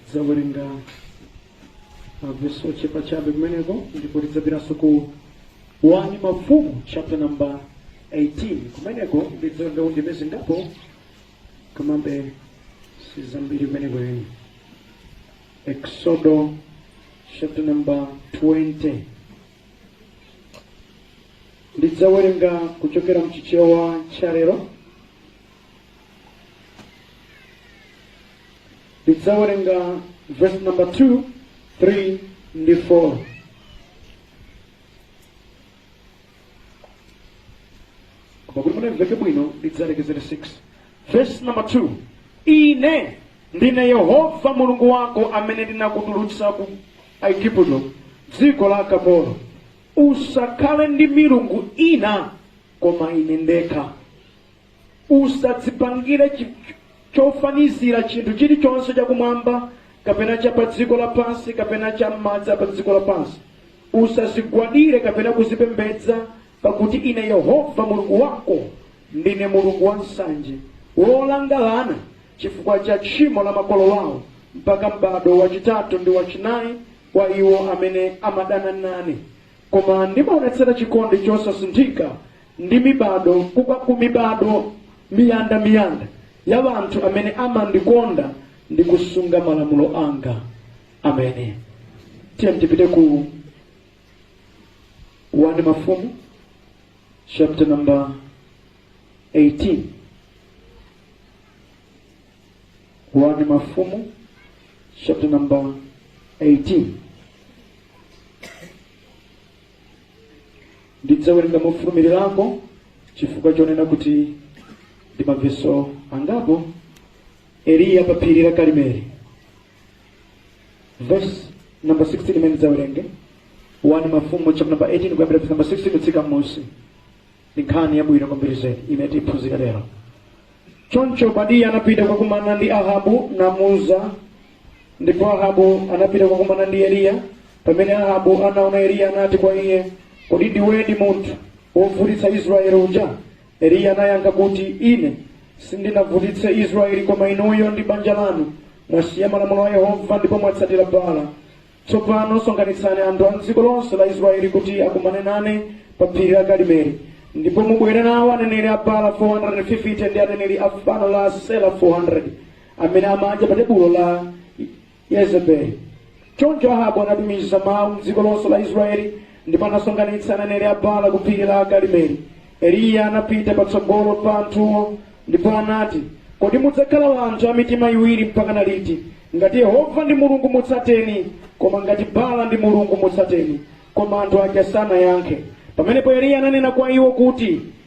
ndidzawerenga mavesi ochepa chabe kumeneko ndipo tidzapitanso ku 1 mafumu chapter number 18 kumeneko ndidzawerenga undime zingapo komabe sizambiri kumeneko tiyeni exodo chapter number 20 ndidzawerenga kuchokera mchichewa cha lero ndidzawerenga verse number 2 3 ndi 4 koma kuti mumveke bwino ndidzalekezera 6 verse number 2 ine ndine yehova mulungu wako amene ndinakutulutsa ku igupto dziko la akapolo usakhale ndi milungu ina koma ine ndekha usadzipangire chofanizira chinthu chilichonse chakumwamba kapena cha pa dziko lapansi kapena cha m'madzi a pa dziko lapansi usazigwadire kapena kuzipembedza pakuti ine yehova mulungu wako ndine mulungu wansanje wolanga ana chifukwa cha tchimo la makolo wawo mpaka m'bado wachitatu ndi wachinayi wa iwo amene amadana nane koma ndimaonetsera chikondi chosasinthika ndi mibado ku mibado miyanda miyanda ya wanthu amene amandikonda ndi kusunga malamulo anga amen tiye tipite ku 1 mafumu chapter number 18 1 mafumu chapter number 18 Ndidzawerenga mofulumirirako chifukwa chonena kuti ndi maveso angapo. Eliya pa phiri la Karimeli. Verse number 16 imene ndidzawerenge 1 Mafumu chapter number 18 kuyambira verse number 16 kutsika m'munsi. Ndi nkhani yabwino kwambiri zedi imene tiphunzira lero. Choncho Obadiya anapita kukakumana ndi Ahabu namuuza Ndipo Ahabu anapita kukumana ndi Eliya. Pamene Ahabu anaona Eliya anati kwa iye, Kodi ndiwedi munthu wovutitsa Israeli uja? Eliya anayankha kuti, Ine sindinavutitse Israeli koma inuyo ndi banja lanu mwasiya malamulo a Yehova ndipo mwatsatira Baala. Tsopano sonkhanitsani anthu a m'dziko lonse la Israeli kuti akumane nane pa phiri la Karimeli. Ndipo mubwere nawo aneneri a Baala 450 ndi aneneri a fano la Asera 400. amene amadya pa tebulo la Yezebeli. Choncho Ahabu anatumiza mawu m'dziko lonse la Israeli ndipo anasonkhanitsa aneneri a Baala ku phiri la Karimeli. Eliya anapita patsogolo pa anthuwo ndipo anati, Kodi mudzakhala anthu a mitima iwiri mpakana liti? Ngati Yehova ndi Mulungu mutsateni, koma ngati Baala ndi Mulungu mutsateni. Koma anthu aja sanayankhe. Pamenepo Eliya ananena kwa iwo kuti,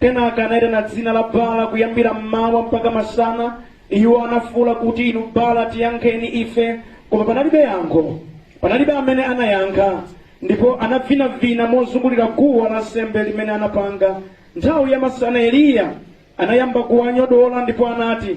Kenaka anaitana dzina la Baala kuyambira mmawa mpaka masana. Iwo anafuwula kuti, Inu Baala, tiyankheni ife! Koma panalibe yankho, panalibe amene anayankha. Ndipo anavinavina mozungulira guwa lansembe limene anapanga. Nthawi ya masana Eliya anayamba kuwanyodola ndipo anati,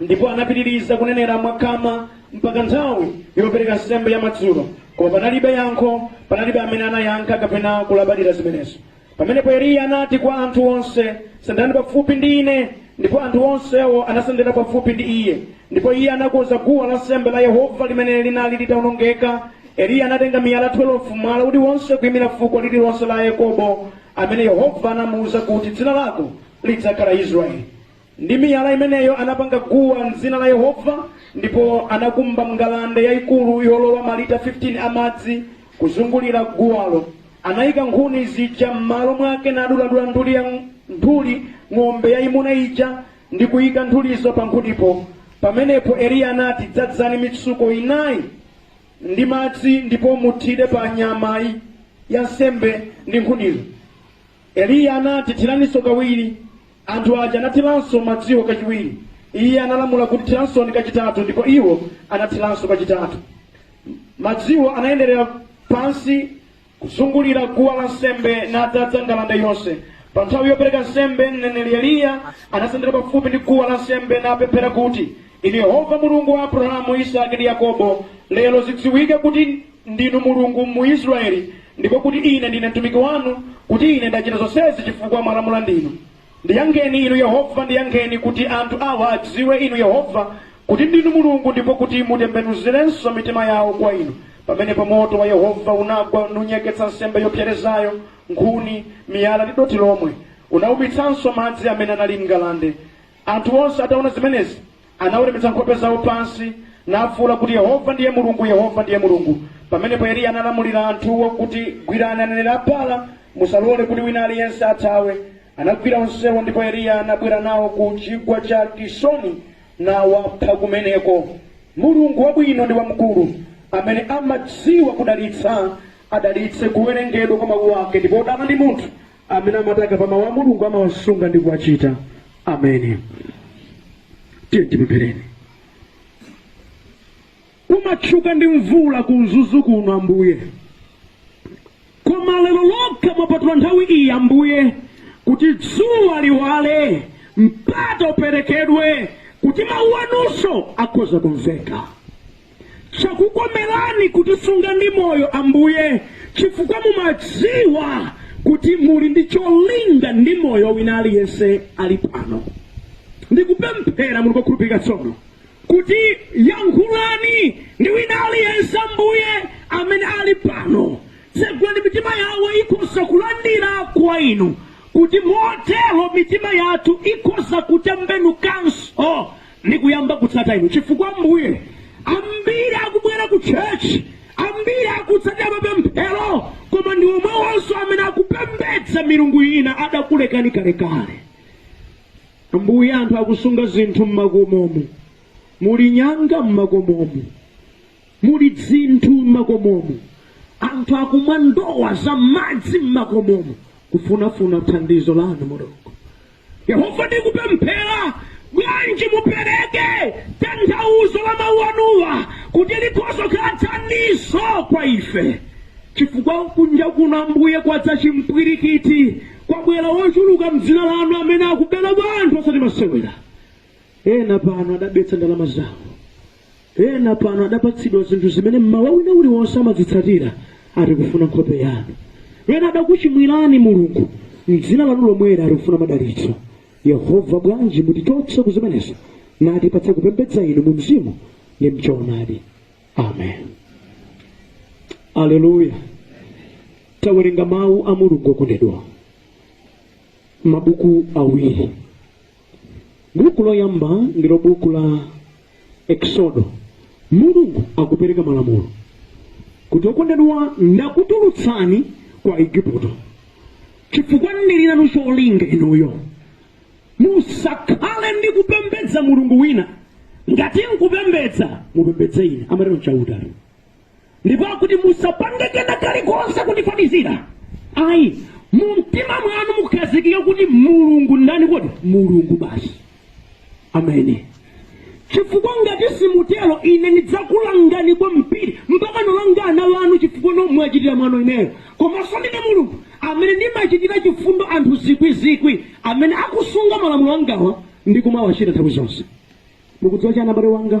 ndipo anapitiriza kunenera mwakhama mpaka nthawi yopereka nsembe ya madzulo koma panalibe yankho panalibe amene anayankha kapena kulabadira zimenezo pamenepo eliya anati kwa anthu onse sendani pafupi ndi ine ndipo anthu onsewo anasendera pafupi ndi iye ndipo iye anakonza guwa la nsembe la yehova limene linali litawonongeka eliya anatenga miyala 12 mwala uliwonse kuyimira fuko lililonse la yakobo amene yehova anamuwuza kuti dzina lako lidzakhala israeli Ndi miyala imeneyo anapanga guwa m'dzina la Yehova, ndipo anakumba ngalande yayikulu yolowa malita 15 a madzi kuzungulira guwalo. Anayika nkhuni zija m'malo mwake naduladula nthuli ya nthuli ng'ombe yayimuna ija ndi kuyika nthulizo pa nkhunipo. Pamenepo Eliya anati, Dzadzani mitsuko inayi ndi madzi ndipo muthire pa nyama ya nsembe ndi nkhunizo. Eliya anati, Thiraninso kawiri. Anthu aja anathiranso madziwo kachiwiri. Iye analamula kuti, Thiransoni kachitatu, ndipo iwo anathiranso kachitatu. Madziwo anayenderera pansi kuzungulira guwa la nsembe nadzadza ngalande yonse. Pa nthawi yopereka nsembe, mneneri Eliya anasendera pafupi ndi guwa la nsembe napemphera kuti, Inu Yehova Mulungu wa Abrahamu, Isaki ndi Yakobo, lero zidziwike kuti ndinu Mulungu mu Israeli, ndipo kuti ine ndine mtumiki wanu, kuti ine ndachita zonsezi chifukwa mwalamula ndinu. Ndiyankheni inu Yehova, ndiyankheni, kuti anthu awa adziwe inu Yehova, kuti ndinu Mulungu, ndipo kuti mutembenuzirenso mitima yawo kwa inu. Pamenepo moto wa Yehova unagwa nunyeketsa nsembe yopserezayo, nkhuni, miyala ndi dothi lomwe. Unawumitsanso madzi amene anali m'ngalande. Anthu onse ataona zimenezi, anaweramitsa nkhope zawo pansi, nafuula kuti, Yehova ndiye Mulungu, Yehova ndiye Mulungu. Pamenepo Eliya analamulira anthuwo kuti, Gwirani aneneri a Baala, musalole kuti wina aliyense athawe. Anagwira onsewo ndipo Eliya anabwera nawo ku chigwa cha Kisoni nawapha kumeneko. Mulungu wabwino ndi wamkulu, amene amadziwa kudalitsa, adalitse kuwerengedwa kwa mawu ake, ndipo wodala ndi munthu amene amati akamva mawu a mulungu amawasunga ndi kuwachita ameni tiyeni tipemphereni kumatchuka ndi mvula ku mzuzu kuno ambuye koma lero lokha mwapatula nthawi iyi ambuye kuti dzuwa liwale mpata uperekedwe kuti mawu anunso akhoza kumveka Chakukomerani kutisunga ndi moyo, Ambuye, chifukwa mumadziwa kuti muli ndi cholinga ndi moyo wina aliyense ali pano. Ndikupemphera Mulungu wokhulupirika tsono kuti yankhulani ndi wina aliyense, Ambuye, amene ali pano. Tsegulani mitima yawo ikhoza kulandira kwa Inu, kuti motero mitima yathu ikhoza kutembenukanso ndi kuyamba kutsata inu chifukwa ambuye ambiri akubwera ku church ambiri akutsatira mapemphero koma ndi omwewonso amene akupembedza milungu ina adakulekani kalekale ambuye anthu akusunga zinthu mmakomomu muli nyanga mmakomomu muli dzinthu m'makomomu, anthu akumwa ndowa za madzi m'makomomu kufunafuna thandizo lanu mulungu yehova ndikupemphera bwanji mupereke tanthauzo la mawu anuwa kuti likhoza kukhala thandizo kwa ife chifukwa kunja kuno ambuye kwadza chimpwirikiti kwabwera ochuluka mdzina lanu amene akubera anthu osati masewera ena pano adabetsa ndalama zawo ena pano adapatsidwa zinthu zimene mmawa wina uliwonse amazitsatira ati kufuna nkhope yanu ena adakuchimwirani mulungu mdzina lanu lomweli ati kufuna madalitso yehova bwanji mutichotse kuzimenezo natipatse kupembedza inu mu mzimu ndi mchoonadi amen aleluya tawerenga mawu a mulungu okondedwa mabuku awiri Buku loyamba ndilo buku la Eksodo. Mulungu akupereka malamulo kuti okondedwa, ndakutulutsani kwa Aigupto chifukwa ndili nanu cholinga inuyo. Musakhale ndi kupembedza mulungu wina, ngati nkupembedza mupembedze ine, amatero Chauta. ndipo akuti musapange kena kalikonse kundifanizira ayi mu mtima mwanu mukhazikike kuti mulungu ndani kodi mulungu basi ameni chifukwa ngati simutero ine ndidzakulangani kwambiri mpaka nolanga ana anu chifukwa nomwachitira mwano ineyo komanso ndine mulungu amene ndimachitira chifundo anthu zikwizikwi amene akusunga malamulo angawa ndi kumawachita nthawi zonse mukudziwa chani abale anga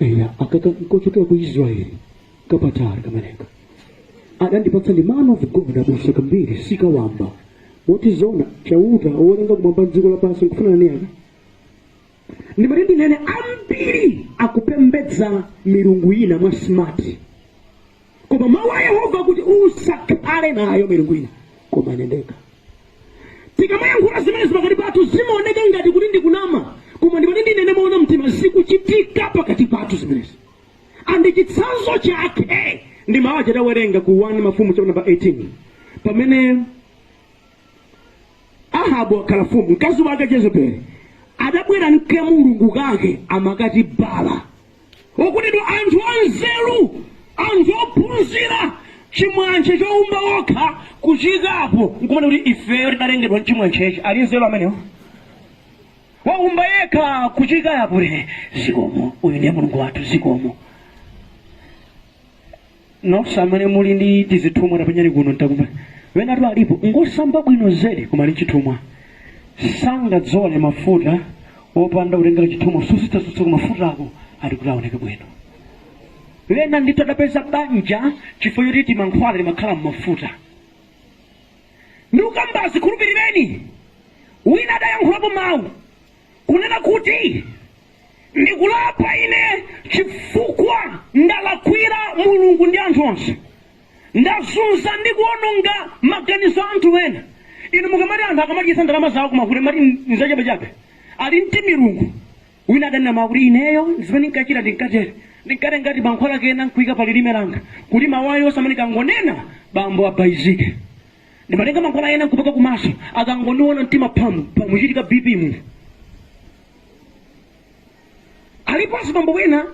eya akaka nkochokera ku israeli kapatali kameneka adandipatsa ndi man of God abusa kambiri sikawamba moti zona chauta wolenga kumwamba ndi dziko lapansi nkufanana ni aka ndimati ndinene ambiri akupembedza milungu ina mwa smart koma mawu a yehova kuti usakhale nayo milungu ina koma ine ndekha tikamayankhula zimenezi pakati pathu zimaoneka ngati kuti ndikunama koma ndimati ndinene moona mtima zikuchitika pakati pathu zimenezi andi chitsanzo chake ndi mawu aja tawerenga ku 1 mafumu chapter number 18 pamene Ahabu wakhala mfumu, mkazi wake Jezebeli adabwera nka mulungu kake amakati Bala. Okutidwa anthu anzeru, anthu ophunzira, chimwantche choumba okha kuchiikapo nkumanena kuti ifeyo tidalengedwa nchimwantchechi. Ali nzeru amenewo? Waumba yekha kuchiika apo kuti he, zikomo, uyu ndiye mulungu wathu, zikomo. Nonse amene muli ndi tizithumwa tapenyani kuno ntakuuzani wenatu alipo ngosamba bwino zedi koma ali nchithumwa sangadzole mafuta opanda kutengela chithumwa kusunsasunsako mafutako ati kuti aoneke bwino wena ndithu adapeza banja chifukwa choti timankhwala timakhala mmafuta ndikukambazi khulupilireni wina adayankhulapo mau kunena kuti. Ndikulapa ine chifukwa ndalakwira Mulungu ndi anthu onse. Ndazunza ndi kuononga maganizo a anthu ena. Inu mukamati anthu akamadyetsa ndalama zawo ku mafuta mumati nzachabechabe, ali nd timilungu. Wina adanena mawu kuti ineyo zimene ndinkachita ndinkatere, ndinkatenga timankhwala kena nkuika pa lilime langa kuti mawu aliwonse amene ndikangonena bambo abaizike. Ndimatenga mankhwala ena nkupaka kumaso, akangondiona mtima phamu phamu, kuchitika BP munthu. aliponso bambo wena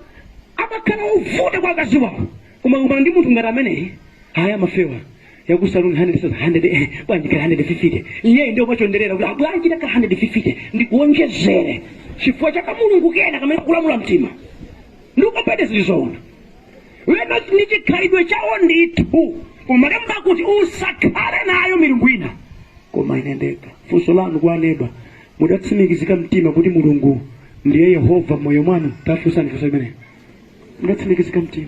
amakhala ovuta kwa akazi wawo koma kukumana ndi munthu ngati ameneyi aya amafewa yakusaluni 100 eh, bwanji ka 150 iyeyo ndi omachonderera kuti abwanji taka 150 ndikuonjezere chifukwa cha kamulungu kena kamene kakulamula mtima ndikupete zili zoona wena ndi chikhalidwe chawo ndithu koma malemba akuti usakhale nayo milungu ina koma ine ndekha funso lanu kwa aneba Mudatsimikizika mtima kuti Mulungu ndiye Yehova m'moyo mwanu? Tafunsani funso limeneli. Mudatsimikizika mtima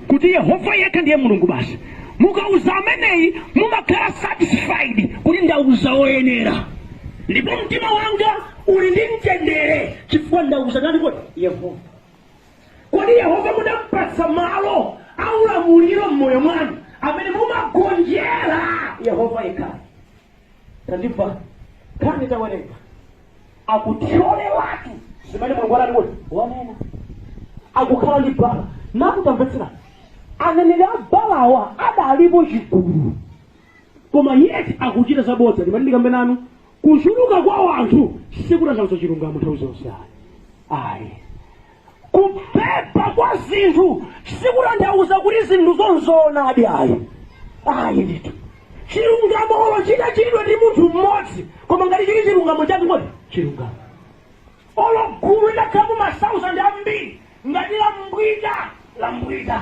kuti Yehova yekha ndiye Mulungu basi? Mukauza ameneyi mumakhala satisfied kuti ndauza woyenera ndipo mtima wanga uli ndi mtendere chifukwa ndauza ndani kodi? Yehova. Kodi Yehova mudampatsa malo aulamuliro m'moyo mwanu amene mumagonjera Yehova yekhayo? tandimvani nkhani tawerenga akuthyole watu zimene mulungu anati kuti wanena akukhala ndi bala nakutamvetsera aneneri a balawa adalipo chigulu koma yeti akuchita zabodza ndimati ndikambe nanu kuchuluka kwa anthu sikutanthauza chilungamo nthawi zonse ayi ayi Kupepa kwa zinthu sikutanthauza kuti zinthuzo nzoonadi ayi ayi ndithu chilungamo olo chitachitidwa ndi munthu mmodzi koma ngati chili chilungamo chake nchoti chilungamo olo gulu litakhala mu masauzandi ambiri ngati lambwita lambwita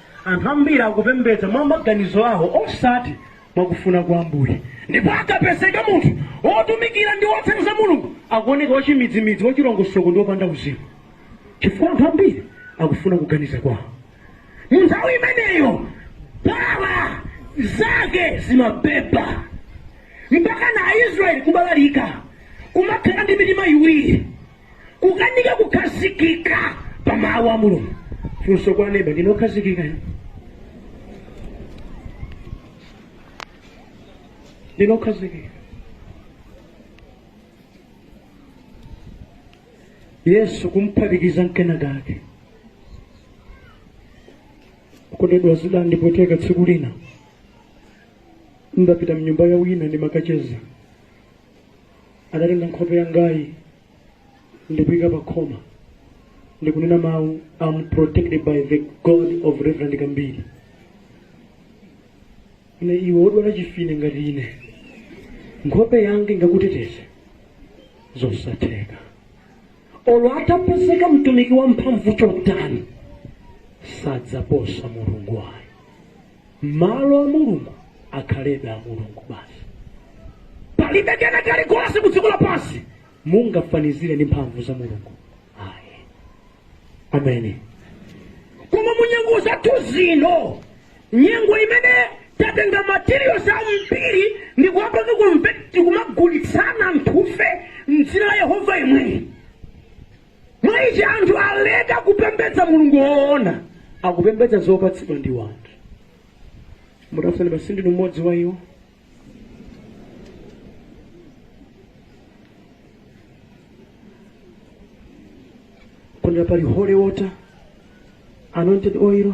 Anthu ambiri akupembedza mwa maganizo awo osati mwa kufuna kwa Ambuye. Ndipo akapezeka munthu wotumikira ndi wotsenza za Mulungu, akuoneka wachimidzimidzi, wachilongosoko ndi wopanda uzimu. Chifukwa anthu ambiri akufuna kuganiza kwawo. Mu nthawi imeneyo Baala zake zimabeba mpakana Aisraeli kubalalika kumakhala ndi mitima iwiri. kukanika kukhazikika pa mawu a mulungu funsa kwa neba ndine okhazikika ine? ndine okhazikika yesu kumphatikiza nkena kake kukondedwa zida ndipoteka tsiku lina ndapita mnyumba ya wina ndimakacheza adatenga nkhope yangayi ndikuika pa khoma ndikunena mawu am protected by the god of reverend kambiri ine iwe wodwala chimfine ngati ine nkhope yanga ingakuteteze zosatheka olo atapezeka mtumiki wa mphamvu chotani sadzaposa mulungu ayi malo a mulungu akhalebe a mulungu basi palibe kena kalikonse ku dziko lapansi mungafanizire ndi mphamvu za mulungu ayi ameni koma mu nyengo zathu zino nyengo imene tatenga materials ambiri ndi kuwapanga kumve- tikumagulitsana anthufe mdzina la yehova imweyi Mwa ichi anthu aleka kupembedza Mulungu woona, akupembedza zopatsidwa ndi wanthu. Mutafuna basi ndinu mmodzi wa iwo. Komwe pali holy water, anointed oil,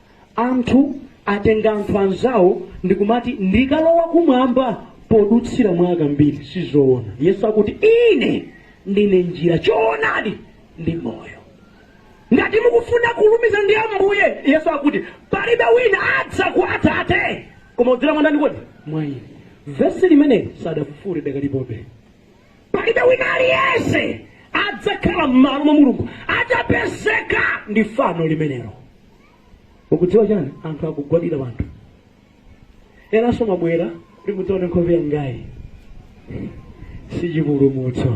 Anthu atenga anthu anzawo ndikumati ndikalowa kumwamba podutsira mwa akambiri sizoona yesu akuti ine ndine njira choonadi ndi moyo ngati mukufuna kulumiza ndi ambuye yesu akuti palibe wina adza kwa atate koma kudzera mwa ndani kodi mwa ine vesi limeneli sadafufure lidakalipobe palibe wina aliyense adzakhala m'malo mwa mulungu atapezeka ndi fano limenelo ukudziwa chani anthu akugwadira anthu enanso mwabwera kuti mudzaone nkhope yangayi si chipulumutso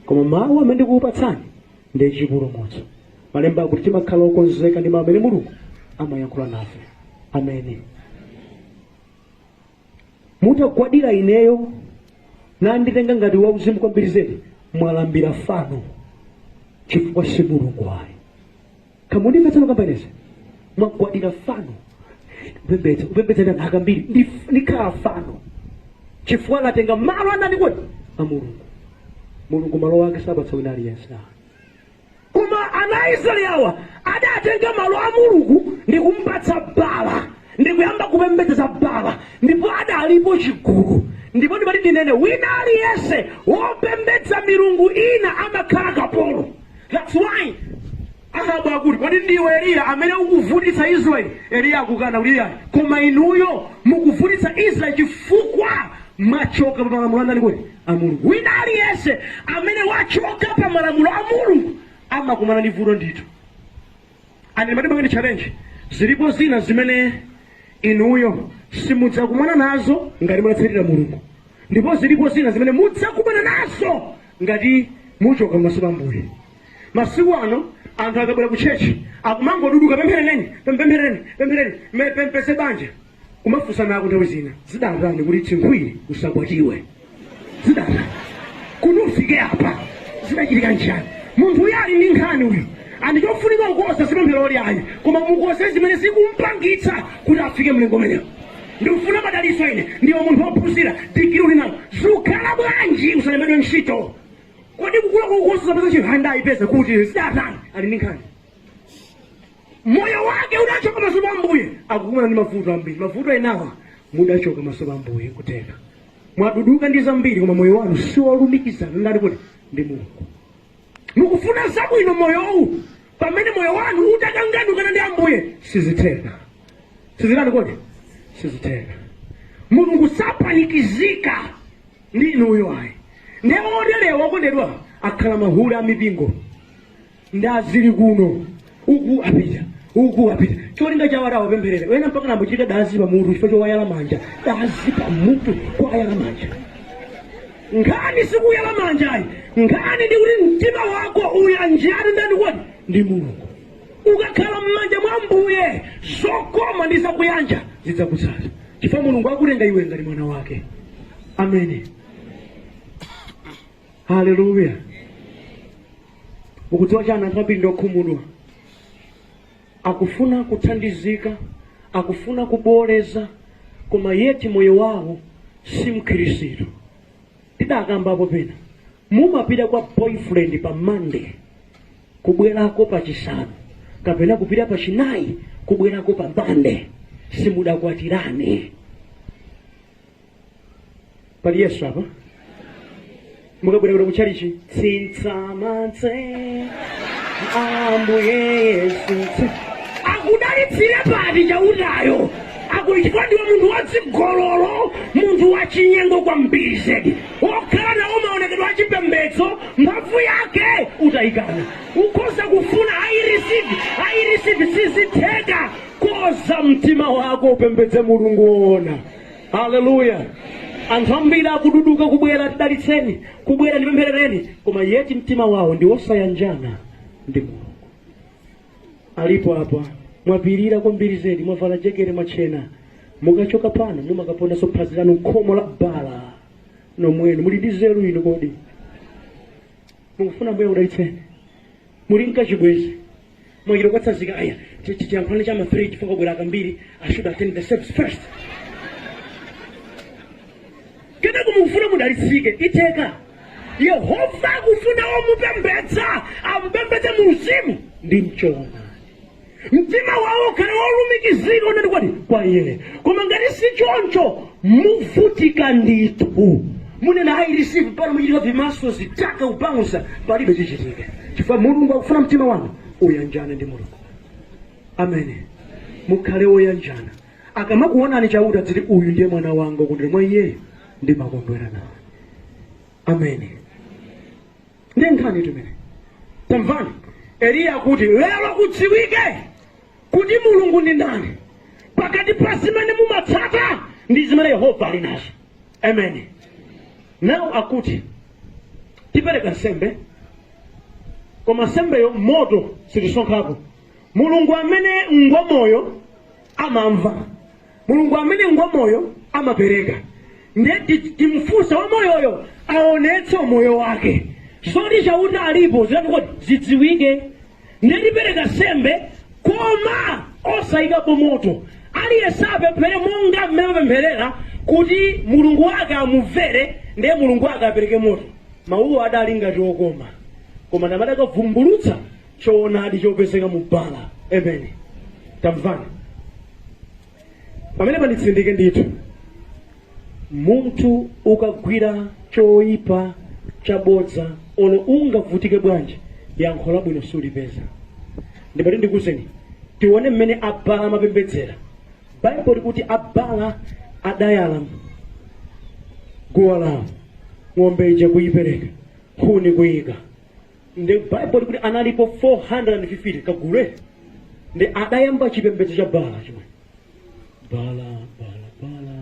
koma mawu amene ndikukupatsani ndi chipulumutso malemba akuti timakhala okonzeka ndi mawu amene mulungu amayankhula nafe ameni mutagwadira ineyo nanditenga ngati wauzimu kwambiri zedi mwalambira fano chifukwa si mulungu ayi kamundimvetsano kambainesa mwagwadira fano kupembedza kupembedza akambiri ndi- ndikhala fano chifukwa latenga malo andani kodi a mulungu mulungu malo ake sapatsa wina aliyense ayi. koma ana a israeli awa adatenga malo a mulungu ndi kumpatsa bala ndi kuyamba kupembedza bala ndipo adalipo chigulu ndipo ndimati ndinene wina aliyense wopembedza milungu ina amakhala kapolo That's why Ahabu akuti kodi ndiwe Eliya amene ukuvutitsa Israeli? Eliya akukana kuti iyayi, koma inuyo mukuvutitsa Israeli chifukwa mwachoka pa malamulo andani kodi a Mulungu. Wina aliyense amene wachoka pa malamulo a Mulungu amakumana ndi vuto ndithu. And ndimati ndipange challenge zilipo zina zimene inuyo simudzakumana nazo ngati munatsatira Mulungu, ndipo zilipo zina zimene mudzakumana nazo Ngati muchoka pamaso pa Ambuye. Masiku ano anthu akabwera ku church akumangoduduka pempherereni, pempempherereni, pempherereni, me- ndipeze banja. Kumafunsanako nthawi zina. Zidatani kuti chinkhwiri usakwatiwe? Zidatani? Kuti ufike apa? Zidachitika nchani? Munthu uyu ali ndi nkhani uyu. And chofunika kukonza si pemphero iyayi, koma mukonze zimene zikumpangitsa kuti afike mlingo umenewo. Ndikufuna madalitso ine. Ndiwe munthu wophunzira, digiri uli nayo. Zukhala bwanji usalembedwe ntchito? Kodi kukula kwakukonso zapeza chihanda ayipeza kuti zidatani? Ali ndi nkhani. Moyo wake udachoka maso pa Ambuye. Akukumana ndi mavuto ambiri. Mavuto enawa mudachoka maso pa Ambuye kutheka. Mwaduduka ndi zambiri koma moyo wanu si wolumikizana ndani kodi ndi Mulungu. mukufuna zabwino moyowu pamene moyo wanu utakanganukana ndi ambuye sizitheka sizitani kodi sizitheka mulungu sapanikizika ndi inuyo ayi nde oterewa okondedwa akhala mahule a mipingo ndi azili kuno uku apita uku apita cholinga chawo ati awapempherere wena mpaka nambochita dazi pamutu chifukwa chowayala manja dazi pamutu kwayala manja nkhani sikuyala manja ayi nkhani ndi kuti mtima wako uyanjane ndani kodi ndi mulungu ukakhala m'manja mwa ambuye zokoma ndi zakuyanja zidzakutsata chifukwa mulungu akutenga iwe ngati mwana wake amen haleluya mukudziwa chani anthu ambiri ndiokhumudwa akufuna kuthandizika akufuna kuboleza koma yeti moyo wawo si mkhirisitu tidakambapo pena mumapita kwa boyfriend pa monday kubwerako pa chisanu kapena kupita pa chinayi kubwerako pa monday simudakwatirane pali yesu apa mukabwera kuno kuchalichi tsintsamatse ambuye yesu tsi- akudalitsire pati chautayo akuti chifukwa ndiwe munthu wadzigololo munthu wachinyengo kwambiri zedi wokhala nawo maonekedwe achipembedzo mphamvu yake utayikana ukhoza kufuna i receive i receive sizitheka konza mtima wako upembedze mulungu woona haleluya anthu ambiri akududuka kubwera tidalitseni kubwera ndipempherereni koma yeti mtima wawo ndi wosayanjana ndi mulungu alipo apa mwapirira kwambiri zedi mwavala jekete mwachena mukachoka pano mumakapondanso phazi lanu khomo la bala nomwenu muli ndi nzeru inu kodi mukufuna mbuye akudalitseni muli nkachibwezi mwachita kuwatsanzika aya ti- ti- tiyankhulane cha ma3 chifukwa kwabwera akambiri i should attend the service first kenako mukufuna mudalitsike itheka yehova akufuna omupembedza amupembedze mu mzimu ndi mchoona mtima wawo ukhale wolumikizika unati kwa iye koma ngati si choncho muvutika ndithu munena i receive pano muchitika vimaso zitaka ubaunsa palibe chichitike chifukwa mulungu akufuna mtima wanu uyanjane ndi mulungu amen mukhale woyanjana akamakuonani chauta adziti uyu ndiye mwana wanga ndikondwera mwa iyeyo ndimakondwera nawo amen ndi nkhani imene tamvani eliya akuti lero kudziwike kuti mulungu ndi ndani pakati pa zimene mumatsata ndi zimene yehova ali nazo amen now akuti tipereka nsembe koma nsembeyo moto sitisonkhako mulungu amene ngwamoyo amamva Mulungu amene ngwamoyo amapereka nde timufunsa wamoyoyo aonetse umoyo wake zoti chauta alipo zitani kodi zidziwike nde tipereka nsembe koma osayikapo moto aliyese apemphere monga mmene amapempherera kuti mulungu wake amumvere nde mulungu wake apereke moto mawuwo adali ngati okoma koma namadakavumbulutsa choonadi chopezeka mu bala amen tamvani pamenepa nditsindike ndithu munthu ukagwira choyipa chabodza olo ungavutike bwanji yankho labwino sulipeza ndimati ndikuuzeni tione mmene abala amapembedzera baibulo likuti abala adayala guwa lawo ng'ombe ija kuyipereka nkhuni kuyika nde bible likuti analipo 450 kagule nde adayamba chipembedzo cha bala chimwe bala bala bala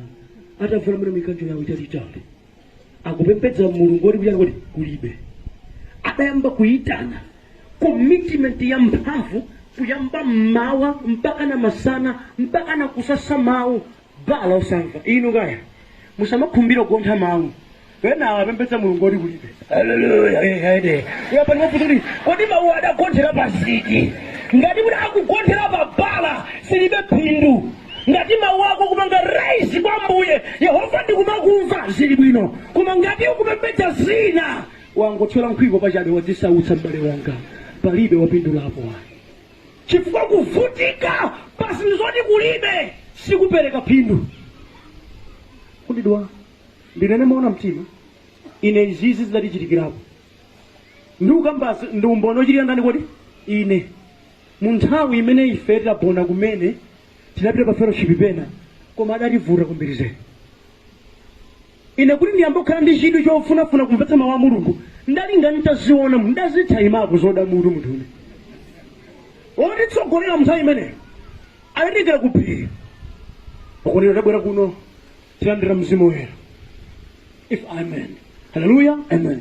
atavula mene mikanjo yawo italitali akupembedza mulungu woti kuyani kodi kulibe adayamba kuyitana commitment ya mphamvu kuyamba mmawa mpaka na masana mpaka na kusasa mawu bala osamva inu kaya musamakhumbira kugontha mawu enawa apembedza mulungu oti kulibe Hallelujah, amen. uyapa ndimafunsa kuti kodi mawu adagonthera pa ziti ngati kuti akugonthera pa bala zilibe phindu ngati mawu ako kupanga raise kwa mbuye yehova ndikumakumva zili bwino koma ngati ukupembedza zina wangothyola nkhwiko pachabe wadzisautsa m'bale wanga palibe wapindulapo ayi chifukwa kuvutika pa zinthu zoti kulibe sikupereka phindu okondedwa ndinene moona mtima ine izizi zidatichitikirapo ndikukambazi ndi umboni ochitira ndani kodi ine mu nthawi imene ife tidabona kumene tidapita pa fellowship pena koma adativuta kwambiri zedi Ine kuti ndiyambe kukhala ndi chidwi chofunafuna kumvetsa mawu a Mulungu ndalinga n'taziona ndazithayimapo zoda mutu munthu wina wotitsogolera munthawi imeneyo adatitengera ku phiri akunena tabwera kuno tilandira mzimu woyera ife amen haleluya amen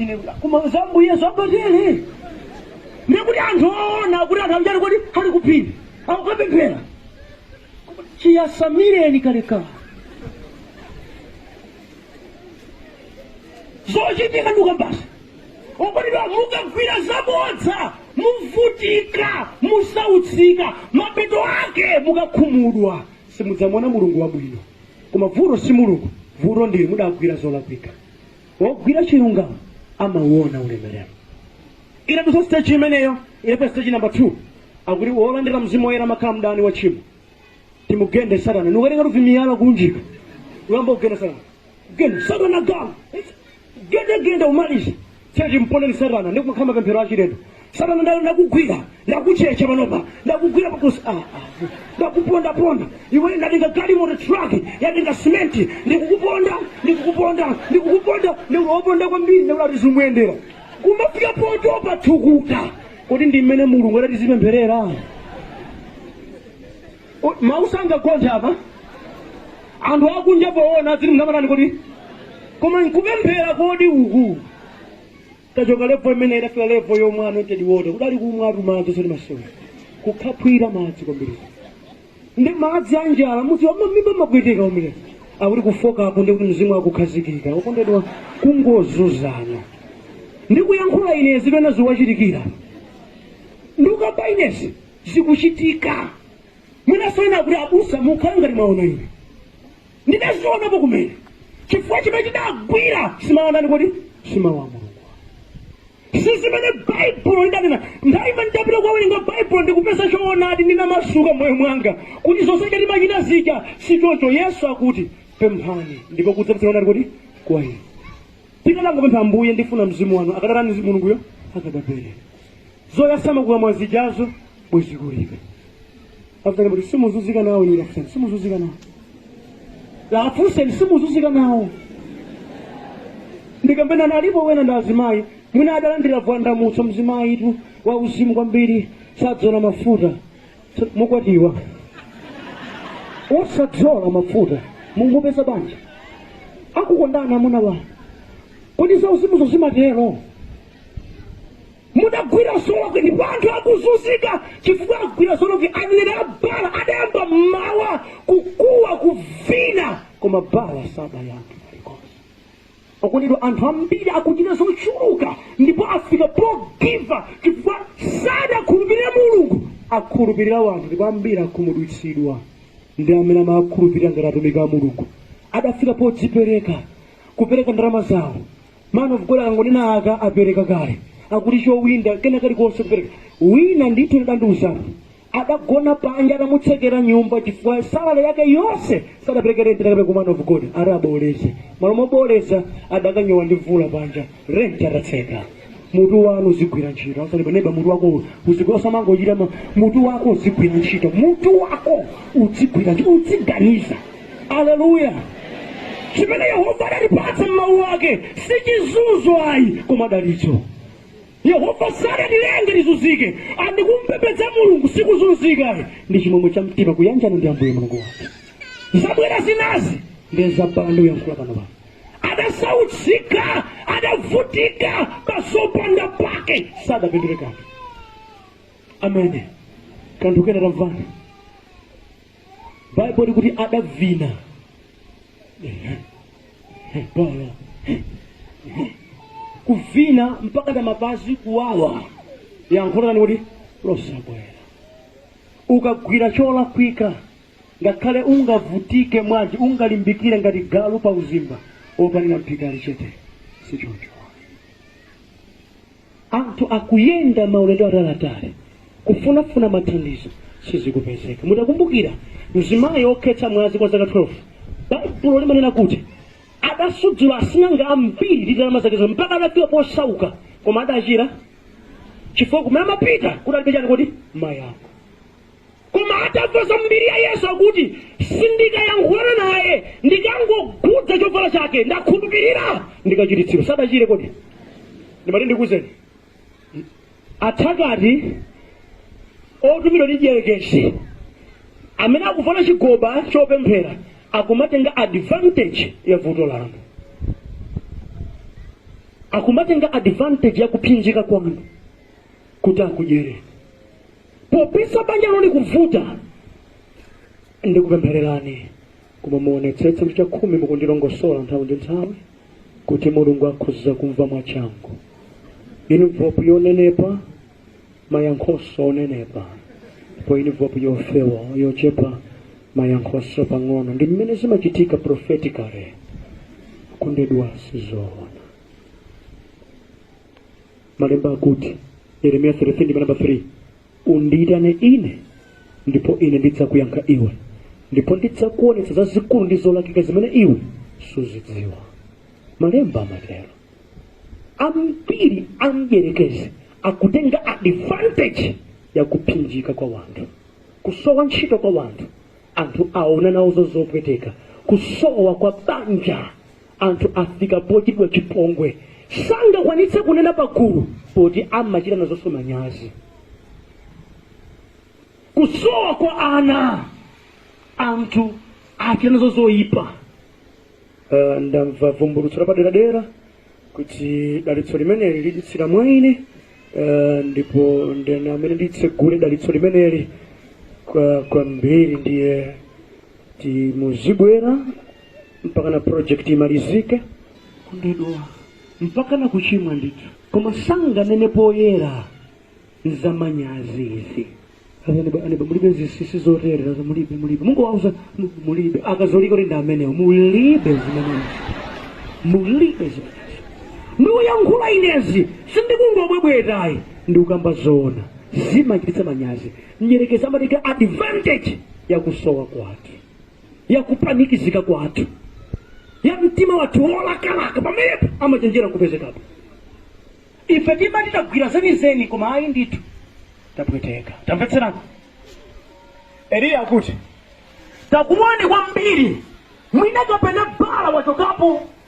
Ine bula. Koma zambu Yesu abadele. Ndikuti anthu oona kuti anthu aja ali kuti ali kuphiri. Akukapemphera. Chiyasamireni kalekale. zochitika nduka basi okondedwa mukagwira zabodza muvutika musautsika mapeto ake mukakhumudwa simudzamona mulungu wabwino koma vuto si mulungu vuto ndi ili mudagwira zolakwika wogwira chilungamo amauona ulemerero inadutsa stage imeneyo inafika stage number 2 akuti wolandira mzimu woyera amakhala mdani wa tchimo timugende satana nkukatenga tuvimiyala kunjika kuyamba kugenda satana genda satana mugende genda umalize Tiyeni timponde satana ndi kumakhala mapemphero achilendo. Satana nda- ndakugwira, ndakuchecha panopa, ndakugwira pakhosi, ah, ah, ndakupondaponda. Iwe ndatenga galimoto truck, yatenga simenti, ndikukuponda, ndikukuponda, ndikukuponda, ndikukuponda kwambiri, ndikuti zimuyendera. Kumafika potopa thukuta. Kodi ndi mmene Mulungu adati tizipempherera? Kodi mau sangagonthe apa? Anthu akunja poona adziti mumatani kodi? Koma nkupemphera kodi uku? Itachoka level imeneyi idafika level yomwa anointed water. Kudali kumwatu madzi osati masewera. Kukhaphwira madzi kwambiri. Ndi madzi a njala muti mamimba amapweteka kumene. Akuti kufooka apo ndi kuti mzimu akukhazikika. Okondedwa kungozunzana. Ndikuyankhula ine zina zikuwachitikira. Ndikukamba inezi. zikuchitika. Mwinanso ena akuti, Abusa, mukhale ngati mwaona ine. Ndidazionapo kumene. Chifukwa chimene tidagwira simawotani kodi simawu a Mulungu. Si zimene Baibulo lidanena. Nthawi imene ndapita kukawerenga Baibulo ndikupeza choonadi ndinamasuka moyo mwanga kuti zonse zija timachita zija si choncho. Yesu akuti, pemphani ndipo kudzapatsidwa kutani kodi kwa inu. Tikadangopempha Ambuye ndifuna mzimu wanu akadatani mzimu Mulunguyo akadapereka. zoyasama kukamwa zijazo bwezi kulibe afutani kuti simuzuzika nawo inu afutani simuzuzika nawo afunseni simuzuzika nawo ndikambe ena alipo ena ndi azimayi mwina adalandira bvumbulutso mzimayitu wa uzimu kwambiri sadzola mafuta Mukwatiwa osadzola mafuta mungopeza panja akukondana amuna wanu kodi za uzimuzo zimatero mudagwira zolakwa ndipo anthu akuzunzika chifukwa agwira zolakwa aneneri a baala adayamba mmawa kukuwa kuvina koma baala sadayankhe kalikonse okondedwa anthu ambiri akuchita zochuluka ndipo afika pogiva chifukwa sadakhulupirire mulungu akhulupirira wanthu ndipo ambiri akhumudwitsidwa ndi amene amawakhulupirira ngati atumiki a mulungu adafika podzipereka kupereka ndalama zawo Man of God akangonena aka apereka kale akuti chowinda kena kalikonse kupereka wina ndithu adandiuza adagona panja adamutsekera nyumba chifukwa salale yake yonse sadapereke renti adakapereka ku man of God ati aboleze malo moboleza adakanyowa ndi mvula panja renti atatseka mutu wanu uzigwira ntchito auzeni a neba mutu wako uzigwira usamangochita ma- mutu wako uzigwira ntchito mutu wako uzigwira ntchito uziganiza aleluya chimene yehova adatipatsa m'mawu ake si chizunzo ayi koma dalitso yehova sadatilenge tizunzike and kumpembedza mulungu sikuzunzika ayi ndi chimwemwe cha mtima kuyanjana ndi ambuye mulungu wake zabwera zinazi ndi za baala ndikuyankhula pano pano adasautsika adavutika pazopanda pake sadapindule kanthu amene kanthu kena tamvani baibulo likuti adavina baala kuvina mpaka na mapazi kuwawa yankho lake kuti losabwera ukagwira cholakwika ngakhale ungavutike mwanji ungalimbikire ngati galu pa uzimba opanira mphika ali chete sichoncho Anthu akuyenda maulendo ataliatali kufunafuna mathandizo, sizikupezeka. Mutakumbukira mzimayi wokhetsa mwazi kwa zaka 12, Baibulo limanena kuti, Adasudzula asing'anga ambiri ndi ndalama zake zonse, mpaka adafika posauka, koma adachira, chifukwa kumene amapita kudalibe chani kodi? Mayankho. Koma atamva za mbiri ya Yesu akuti, Sindikayankhulana naye, ndikangokhudza chovala chake, ndakhulupirira, ndikachiritsidwa. Sadachire kodi? Ndimati ndikuwuzeni, athakati otumidwa ndi dyerekezi amene akuvala chigoba chopemphera akumatenga advantage ya vuto lanu, akumatenga advantage ya kupsinjika kwanu kuti akudyere. popeza banjalo likuvuta ndikupemphererani koma muonetsetse kuti chakhumi mukundilongosola nthawi ndi nthawi kuti mulungu akhoza kumva mwachangu inivopu yonenepa mayankhoso onenepa ndipo inivopu yofewa yochepa mayankhoso pang'ono ndi mmene zimachitika prophetically okondedwa sizoona malemba akuti yeremiya 33 ndime namba 3 undiyitane ine ndipo ine ndidzakuyankha iwe ndipo ndidzakuonetsa zazikulu ndi zolakika zimene iwe suzidziwa malemba amatero ambiri amdyerekezi akutenga advantage ya kupsinjika kwa wanthu kusowa ntchito kwa wanthu anthu aona nawo zopweteka kusowa kwa banja anthu afika pochitidwa chipongwe sangakwanitse kunena pagulu poti amachita nazonso manyazi kusowa kwa ana anthu achita nazo zoyipa uh, ndamva vumbulutso lapaderadera kuti dalitso limeneli liditsira mwa ine uh, ndipo ndine amene nditsegule dalitso limeneli kwa ambiri ndiye muzibwera mpaka na project imalizike kugonedwa mpaka na kuchimwa ndithu koma sanganene poyera nzamanyazi izi aneba mulibe zisisi zoterezo mulibe mulibe mungowauza mu- mulibe akatolika kuti ndi amenewo mulibe zimenezi mulibe zimenezi ndikuyankhula inezi sindikungobwebwetayi ndikukamba zoona zimachititsa manyazi mdyerekezi amatenga advantage yakusowa kwathu ya kupanikizika kwathu ya mtima wathu wolakalaka pamenepo amachenjera kupezekapo ife timati tagwira zenizeni koma ayi ndithu tapweteka tamvetserani eliya akuti takuwani kwambiri mwina kapena Baala wachokapo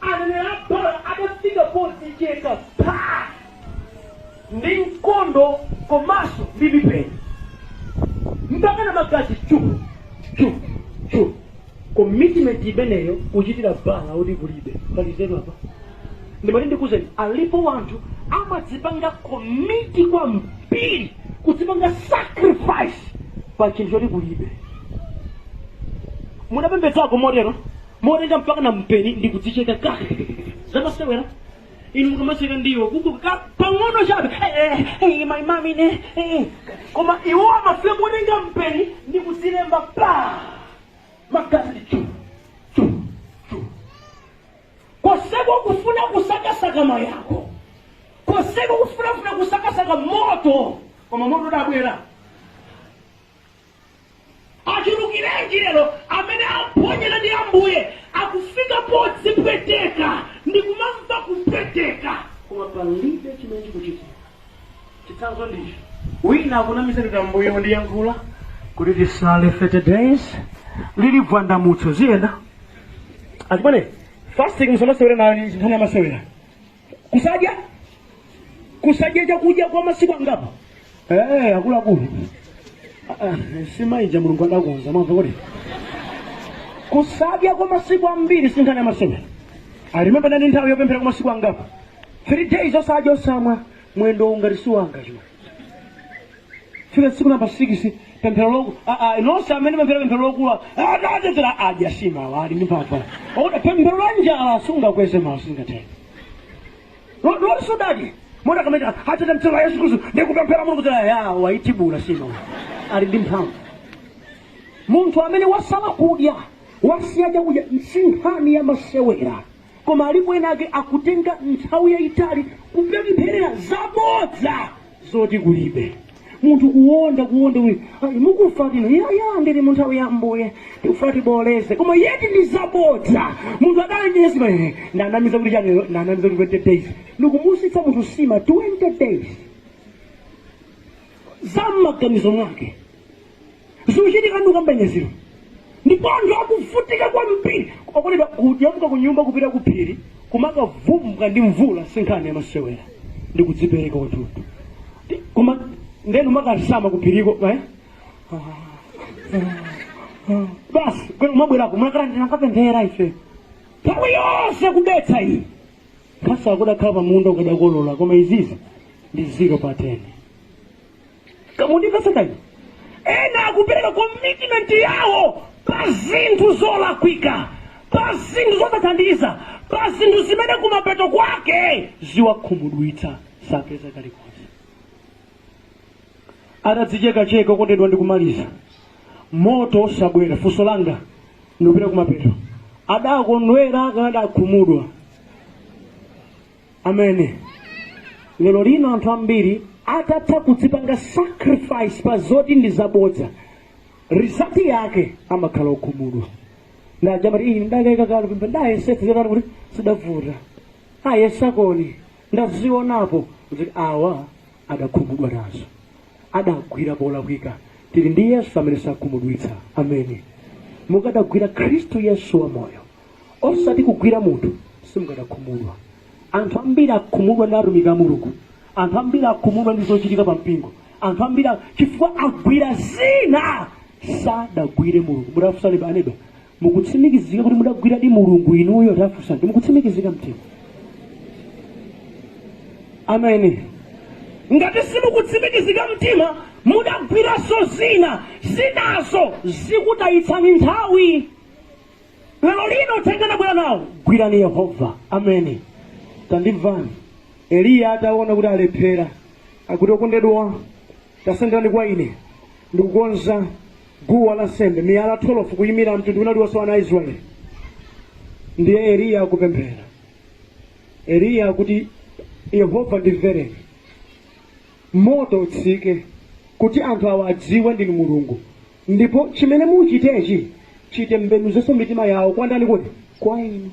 Aneneri a Baala adafika podzicheka phaa ndi mkondo komanso ndi mipeni mpakana magazi chu! chu! chu! commitment imeneyo kuchitira Baala oti kulibe pali nzeru apa? Ndimati ndikuuzeni alipo anthu amadzipanga commit kwambiri kudzipanga sacrifice pa chinthu choti kulibe. Munapembedzako motero? motenga mpaka na mpeni ndi kudzicheka si zamasewera inu mukamasenda ndiwo kukhudza pang'ono chabe Eh, eh, eh, my mami ne eh. koma iwo amafika motenga mpeni ndi kudzilemba pa magazi chu chu chu koseko kufuna kusakasaka mayankho koseko kufunafuna kusakasaka moto koma moto sudabwera achulukirenji lero amene aphonyana ndi ambuye akufika podzipweteka ndi kumamva kupweteka koma palibe chimene chikuchitika chitsanzo ndicho wina akunamiza kuti ambuye wandiyankhula kuti tisale 30 days lili bvumbulutso ziziyenda achimwene fasting musamasewere nayo si nkhani yamasewera kusadya kusadya chakudya kwa masiku angapo eh akuluakulu Ah, ah, simaija mulungu adakonza mwamuna kuti kusadya kwa masiku ambiri sinkhani ya masewera i remember ndinali nthawi yopemphera kwa masiku angapo three days osadya osamwa mwendo ungati siwanga chuma fika tsiku namba 6 pemphero loku a- a- nonse amene pemphera pemphero lokula atatedzera adya nsima awa ali ndi mphamvu oda pemphero la njala sungakweze mawu singatheke loti sudadye mona kamene atete m'dzina la yesu khristu ndikupemphera mulungu dzera ya waitibula nsima awa ali ndi mphamvu munthu amene wasala kudya wasiya chakudya si nkhani ya masewera Koma alipo ena ake akutenga nthawi yayitali kupempherera zabodza zoti kulibe. Munthu kuwonda kuwonda uyu, "Ayi, mukufa tino ya ya ndili mu nthawi ya Ambuye tikufuna tibooleze koma yet ndi zabodza munthu adana nayo nsima eh, ndanamiza kuti chani lero ndanamiza kuti 20 days ndikumusiyitsa munthu nsima 20 days za m'maganizo mwake zikuchitika ndikukamba nyezero ndipo anthu akuvutika kwambiri okonedwa kunyamuka ku nyumba kupita ku phiri kumakavumbwa ndi mvula si nkhani yamasewera ndi kudzipereka kwathunthu Ti- koma nde mumakasala ku phiriko eh? basi kwena kumabwerako munakala ndinakapemphera ife nthawi yonse kudetsa iyi nkhasa ukadakhala pa munda ukadakolola koma izizi ndi zero pa 10 mundimvetse kaye ena akupereka commitment yawo pa zinthu zolakwika pa zinthu zosathandiza pa zinthu zimene kumapeto kwake ziwakhumudwitsa sapeza kalikonse atadzichekacheka okondedwa ndikumaliza moto osabwera funso langa ndikupita kumapeto adakondwera kapena adakhumudwa ameni lero lino anthu ambiri atatha kudzipanga sacrifice pa zoti ndi zabodza result yake amakhala okhumudwa ndajamati iyi ndakaika kale pembe ndayesetsa chotani kuti zidavuta ayesakoni ndazionapo kuti awa adakhumudwa nazo adagwira polakwika. Tili ndi Yesu amene sakhumudwitsa. Ameni. Mukadagwira Khristu Yesu wamoyo, osati kugwira munthu, simukadakhumudwa. Anthu ambiri akhumudwa ndi atumiki a Mulungu. Anthu ambiri akhumudwa ndi zochitika pa mpingo. Anthu ambiri a- chifukwa agwira zina sadagwire Mulungu. Mutafunsani aneba, Mukutsimikizika kuti mudagwiradi Mulungu inuyo? Tafunsani mukutsimikizika mtima? Ameni. Ngati simukutsimikizika mtima, mudagwiranso zina, zinazo zikutayitsani nthawi. Lero lino uthenga ndabwera nawo, gwirani Yehova. Ameni. Tandimvani. Eliya ataona kuti alephera, akuti, Okondedwa, tasenderani kwa ine, ndikukonza. guwa la nsembe, miyala 12 kuyimira mtundu wina uliwonse wa ana a Israeli. Ndiye Eliya akupemphera, Eliya akuti Yehova ndimvereni, moto utsike kuti anthu awa adziwe ndinu Mulungu, ndipo chimene muchitechi chitembenuzanso mitima yawo kwa ndani kodi? Kwa inu.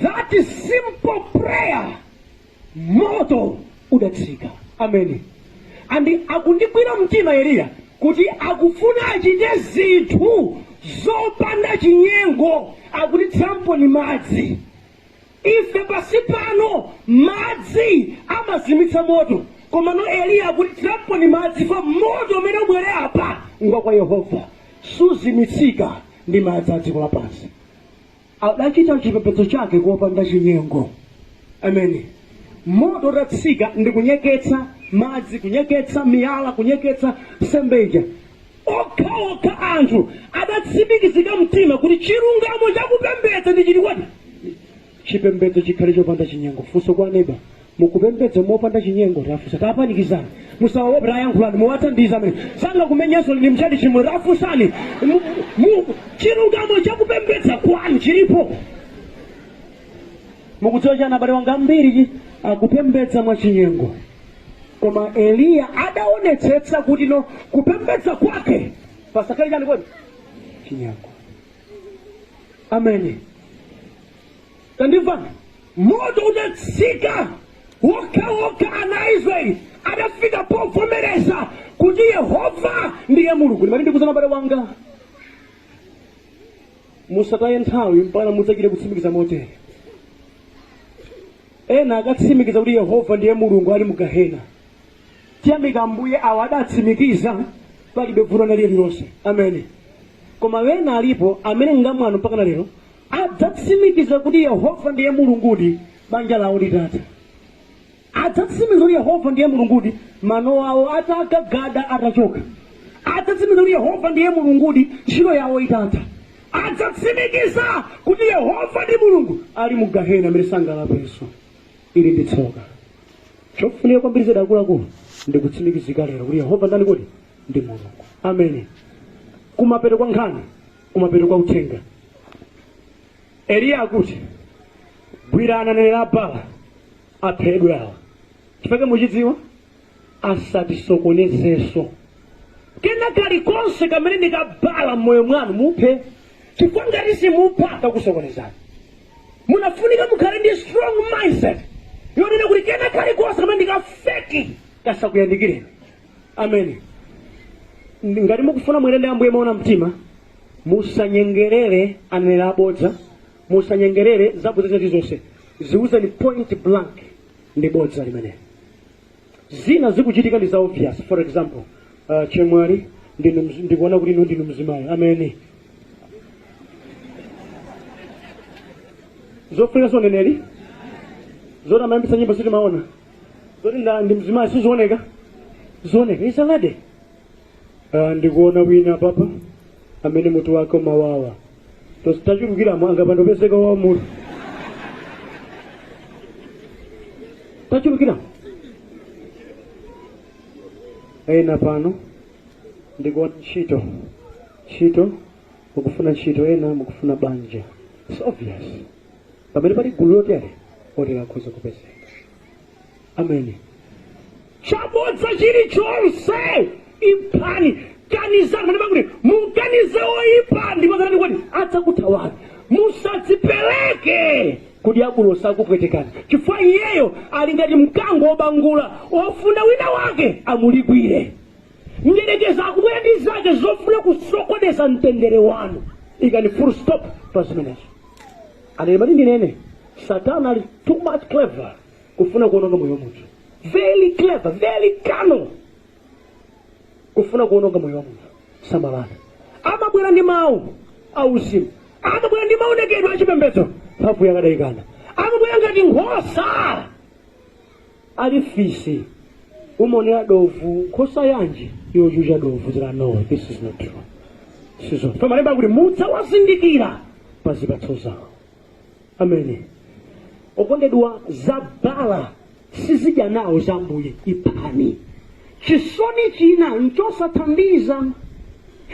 That is simple prayer. moto udatsika ameni and akundigwira mtima eliya kuti akufuna achite zinthu zopanda chinyengo akuti thiramponi madzi ife pansi pano madzi amazimitsa moto komano eliya akuti thiramponi madzi chifukwa moto umene ubwere apa ngwa kwa yehova suzimitsika ndi madzi a dziko lapansi Adachita chipembedzo chakecho opanda chinyengo. Ameni. Moto utatsika ndi kunyeketsa madzi, kunyeketsa miyala, kunyeketsa nsembe ija, okhaokha anthu adatsimikizika mtima kuti chilungamo chakupembedza ndi chiti kodi chipembedzo chikhale chopanda chinyengo. Funso kwa neba, mukupembedza mopanda chinyengo tafunsani tapanikizani musawaope tayankhulani muwathandiza amene sangakumenyeninso ndi mtchalitchi mwe tafunsani chilungamo chakupembedza kwanu chilipo mukudziwa chani abale wanga ambiri akupembedza mwachinyengo koma eliya adaonetsetsa kuti no kupembedza kwake pasakhale chani kodi chinyengo ameni Tandimvani! Moto udatsika okhaokha ana a Israeli adafika povomereza kuti Yehova ndiye Mulungu. Ndimati ndikuuzeni abale wanga, musataye nthawi mpakana mudzachite kutsimikiza motere. Ena akatsimikiza kuti Yehova ndiye Mulungu ali mu Gahena. Tiyamika Ambuye awa adatsimikiza palibe vuto lililonse. Ameni. Koma ena alipo amene ngamwano mpaka na lero Adzatsimikiza kuti Yehova ndiye Mulungudi banja lawo litatha. Adzatsimikiza kuti Yehova ndiye Mulungudi mano awo atagagada atachoka. Adzatsimikiza kuti Yehova ndiye Mulungudi ntchito yawo itatha. Adzatsimikiza kuti Yehova ndi Mulungu ali mu gahena mmene sangalapenso. Ili ndi tsoka. Chofunika kwambiri zedi akuluakulu ndi kutsimikizika lero kuti Yehova ndani kodi? Ndi Mulungu. Ameni. Kumapeto kwa nkhani Kumapeto kwa uthenga, Eliya akuti, Gwirani aneneri a Baala, aphedwe awa. Chifukwa chake mukuchidziwa, asatisokonezenso. Kena kalikonse kamene ndi ka Baala m'moyo mwanu muphe, chifukwa ngati simupha kakusokonezani. Munafunika mukhale ndi strong mindset yonena kuti kena kalikonse kamene ndi ka feki kasakuyandikireni. Amen. Ndi- Ngati mukufuna muyende ndi Ambuye moona mtima, musanyengerere aneneri abodza, musanyengerere zabodza zilizonse. Ziwuzeni point blank ndi bodza limeneli. Zina zikuchitika ndi za obvious. For example, uh, chemwali ndinu mz- ndikuona kuti inu ndinu mzimayi. Amen. Zofunika zoneneri zoti amayambitsa nyimbo sitimaona zoti nda ndi mzimayi sizioneka zioneka It's a lady Ah, ndikuona wina papa amene mutu wake umawawa tachulukiramo angapande kupezeka wa mutu tachulukiramo ena pano ndikuona ntchito ntchito mukufuna ntchito ena mukufuna banja It's obvious pamene pali gulu lotere otero akhoza kupezeka amen chabodza chilichonse iphani kanizani malemba akuti mukanize oyipa ndipo kanani kuti adzakuthawani musadzipereke ku dyabulosi akupwetekani chifukwa iyeyo ali ngati mkango wobangula ofuna wina wake amulikwire Mdyerekezi akubwera ndi zake zofuna kusokoneza mtendere wanu. Ikani full stop pa zimenezo. Ande ndimati ndinene, Satana ali too much clever kufuna kuononga moyo wa munthu. Very clever, very cunning kufuna kuononga moyo wa munthu. Samalani. Amabwera ndi mawu auzimu, amabwera ndi maonekedwe achipembedzo, mphamvu yake adayikana, amabwera ngati nkhosa Ali fisi umaonera dovu nkhosa yanji yochucha dovu zira no this is not true sizo pamalemba akuti mudzawazindikira pa zipatso zawo amen okondedwa za Baala sizidya nawo za ambuye iphani chisoni china nchosathandiza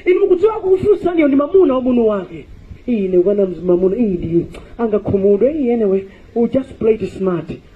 inu mukudziwa akufunsaniyo ndi mamuna wa mwini wake ine kukana mamuna iyi ndi angakhumudwe iyi anyway we just play it smart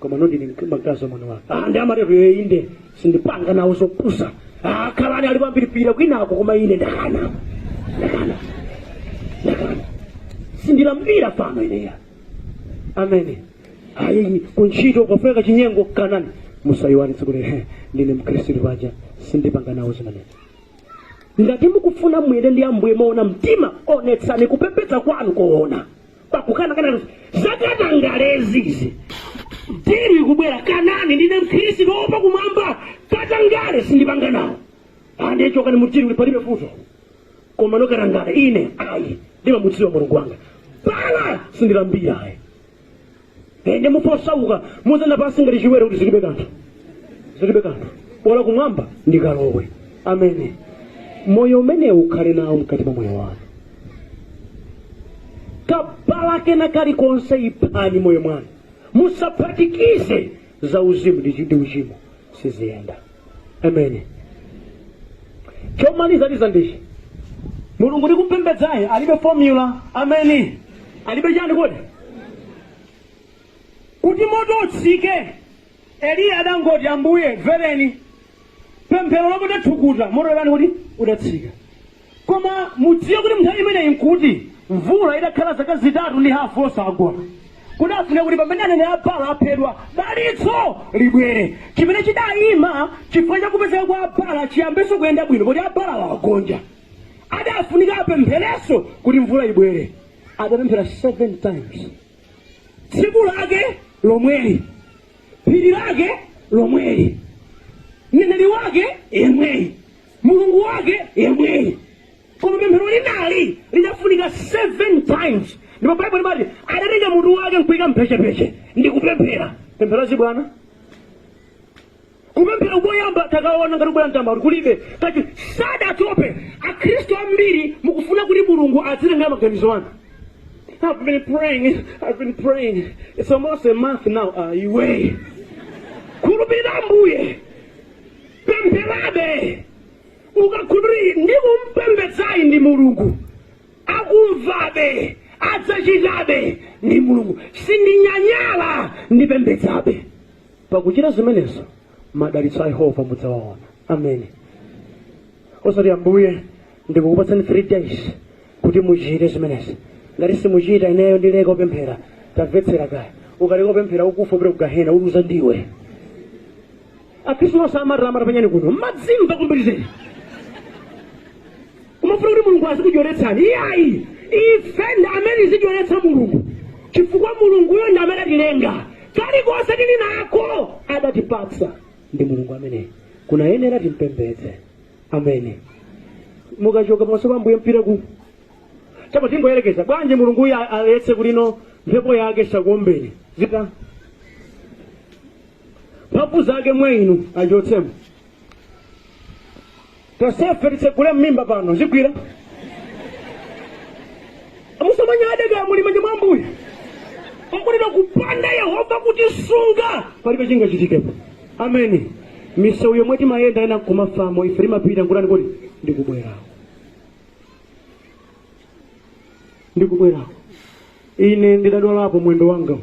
komano ndili mkazi wa mwini wake ah, ndi amatero yoyo inde sindipanga nawo zopusa ah, khalani ali pambiripira kwinako koma ine ndakana ndakana ndakana sindilambira fano ineyo amen ayi kuntchito akafuna chinyengo kanani musayiwale tsiku lero ndine mkhristu paja sindipanga nawo zimenezi ngati mukufuna muyende ndi ambuye moona mtima onetsani kupembedza kwanu koona pakukana kana zakatangalezi izi deal ikubwera kanani ndine mkhristu oopa kumwamba katangale sindipanga nawo ande chokani mu deal uli palibe vuto komano katangale ine ayi ndimamudziwa mulungu wanga Baala sindilambira ayi ende mufa osauka muzayenda pansi ngati chiwere kuti zilibe kanthu zilibe kanthu bola kumwamba ndikalowe ameni moyo umenewu ukhale nawo mkati mwa moyo wanu kabaala kena kalikonse iphani mmoyo mwanu musaphatikize za uzimu ndi uchimo siziyenda ameni chomaliza tiza ndichi mulungu tikumpembedzayi alibe formula ameni alibe chani kodi kuti moto utsike eliya adangoti ambuye mvereni pemphero lopanda thukuta moto udatani kodi udatsika Koma mudziwe kuti m'nthawi imeneyi n'kuti mvula itakhala zaka zitatu ndi hafu osagwa. Kudafunika kuti pamene aneneri a Baala aphedwa, dalitso libwere. Chimene chidaima chifukwa cha kupezeka kwa a Baala chiyambenso kuyenda bwino poti a Baalawo agonja. Adafunika apempherenso kuti mvula ibwere. Adapemphera 7 times. Tsiku lake lomweli, phiri lake lomweli, mneneri wake yemweyi. Mulungu wake yemweyi. Koma pemphero linali lidafunika 7 times, ndipo Baibulo limati adatenga mutu wake nkuika m'mphechepeche ndi kupemphera. Pemphero la zibwana. Kupemphera koyamba takaona ngati kubwera mtambo kuti kulibe kati sadatope. Akhristu ambiri mukufuna kuti Mulungu azitengera maganizo anu. I've been praying, I've been praying. It's almost a month now. Ah, iwe. Khulupirira Ambuye. pempherabe ukakhulupirira ndikumpembedzayi ndi mulungu akumvabe adzachitabe ndi mulungu sindinyanyala ndipembedzabe pakuchita zimenezo madalitso a yehova mudzawaona ameni osati ambuye ndikukupatsani 3 days kuti muchite zimenezi ngati simuchita ineyo ndileka kupemphera tamvetsera kaya ukaleka kupemphera ukufa upita ku gahena uluza ndiwe akhristu nonse amarama tapanyani kuno mmadzimva kwambiri zedi kumafuna kuti mulungu azikudyeretsani iyayi ife ndi amene zidyeretsa mulungu chifukwa mulunguyo ndi amene atilenga kalikonse tili nako adatipatsa ndi mulungu amene kunayenera timpembedze ameni mukachoka pamaso pa ambuye mupita kuti apa tingoyerekeza bwanji mulungu uyu aletse kuti ino mphepo yake isakuombeni zita mphamvu zake mwa inu achotsemo tonsefe kutitsegula mmimba pano zikugwira musamanyade kaya muli mmanja mwa ambuye mukunena kupanda yehova kutisunga palibe chingachitikepo ameni misewu yomwe timayenda ena kumafamo ife timapita nkutani kuti ndikubwerako ndikubwerako ine ndidadwalapo mwendo wanga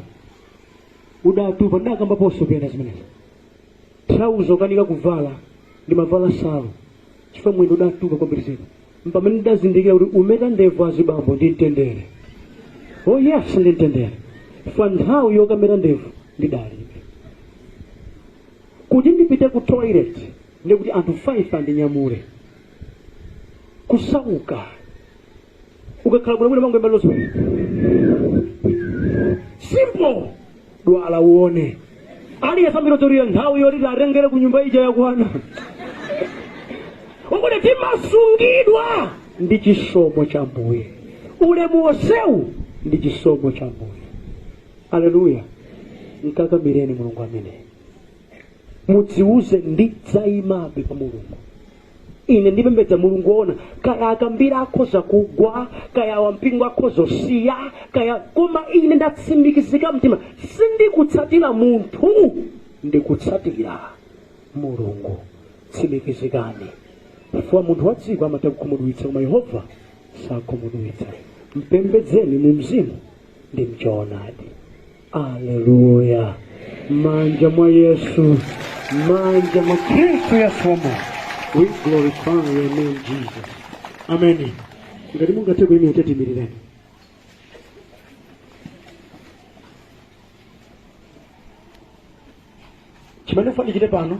udatupa ndidakambaponso pena zimenezi trauza kukanika kuvala ndimavala salu chifukwa mwendo udatupa kwambiri zedi mpamene ndidazindikira kuti kumeta ndevu azibambo ndi mtendere oh yes ndi mtendere chifukwa nthawi yokameta ndevu ndidalibe kuti ndipite ku toilet ndikuti anthu 5 andinyamule kusauka ukakhala bwino bwino mangoyimba zonse simple dwala uone aliyesambira torira nthawi yoti atengere ku nyumba ija yakwana ungoti timasungidwa ndi chisomo cha ambuye ulemu wonsewu ndi chisomo cha ambuye aleluya mkakamireni mulungu ameneyu mudziuze ndidzayimabe pa mulungu ine ndikupembedza mulungu woona kaya akambira akhoza kugwa kaya wampingo akhoza kusiya kaya koma ine ndatsimikizika mtima sindikutsatira munthu ndikutsatira mulungu tsimikizikani chifukwa munthu wa dziko amatha kukhumudwitsa koma yehova sakhumudwitsa mpembedzeni mu mzimu ndi mchoonadi aleluya manja mwa yesu manja mwa kristu yesu wa moyo we glorify your name jesus ameni ngati mungathe kuimira tatiyeni tiimirire chimene ndifuna ndichite pano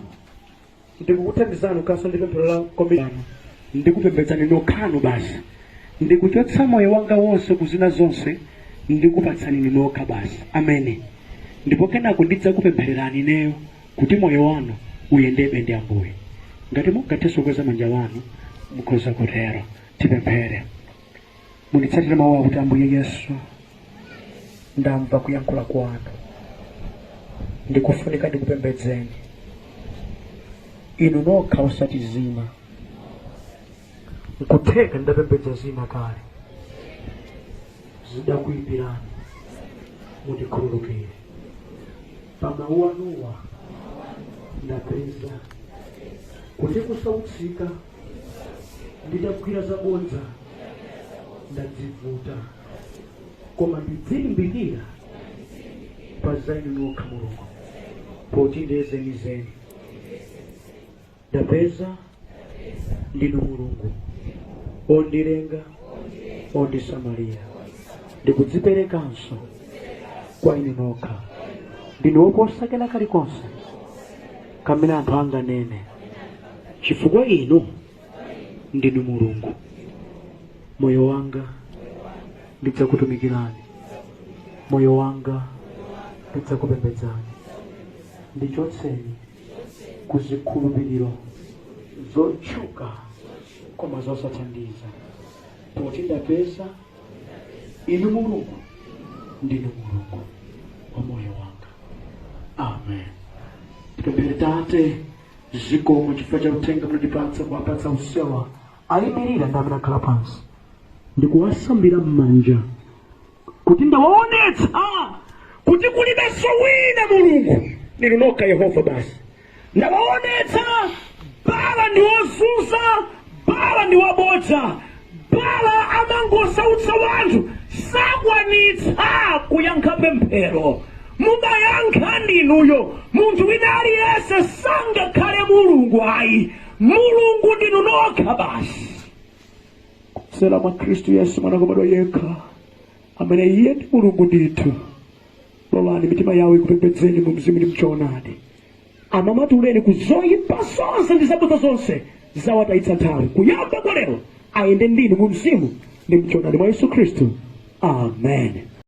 ndikukuthandizani kukhalanso ndi pemphero la komitimenti ndikupembedzani nokhanu basi ndikuchotsa moyo wanga wonse ku zina zonse ndikupatsani inu nokha basi ameni ndipo kenako ndidzakupemphererani ineyo kuti moyo wanu uyendebe ndi ambuye ngati mungathe kukweza manja anu mukhoza kutero tipemphere munditsatire mawuwa kuti ambuye yesu ndamva kuyankhula kwanu ndikufunika ndikupembedzeni inu nokha osati zina nkutheka ndidapembedza zina kale zidakuyipirani mundikhululukire pa mawu anuwa ndapeza kuti kusautsika ndidagwira zabodza ndadzivuta koma ndidzilimbikira pa za inu nokha mulungu poti ndiye zenizeni ndapeza ndinu mulungu ondilenga ondisamalira ndikudziperekanso kwa inu nokha ndinu woposa kena kalikonse kamene anthu anganene chifukwa inu ndinu mulungu moyo wanga ndidzakutumikirani moyo wanga ndidzakupembedzani ndichotseni ku zikhulupiriro zotchuka koma zosathandiza poti ndapeza inu mulungu ndinu mulungu wa moyo wanga amen tipemphere tate zikomo chifukwa cha uthenga munatipatsa kuwapatsa onsewa ayimirira ndi amene akhala pansi ndikuwasambira m'manja kuti ndawaonetsa kuti kulibenso wina mulungu ndinu nokha yehova basi Ndawaonetsa, Baala ndi wozunza, Baala ndi wabodza, Baala amangosautsa wanthu, sakwanitsa kuyankha pemphero. Mumayankha ndi inuyo, munthu wina aliyense sangakhale Mulungu ayi. Mulungu ndinu nokha basi, kudzera mwa Khristu Yesu mwana wobadwa yekha. amene iye ndi mulungu ndithu lolani mitima yawo ikupembedzeni mu mzimu ndi mchoonadi awamasuleni ku zoyipa zonse ndi zabodza zonse zawatayitsa nthawi kuyamba kwa lero ayende ndinu mu mzimu ndi mchoonadi mwa yesu khristu amen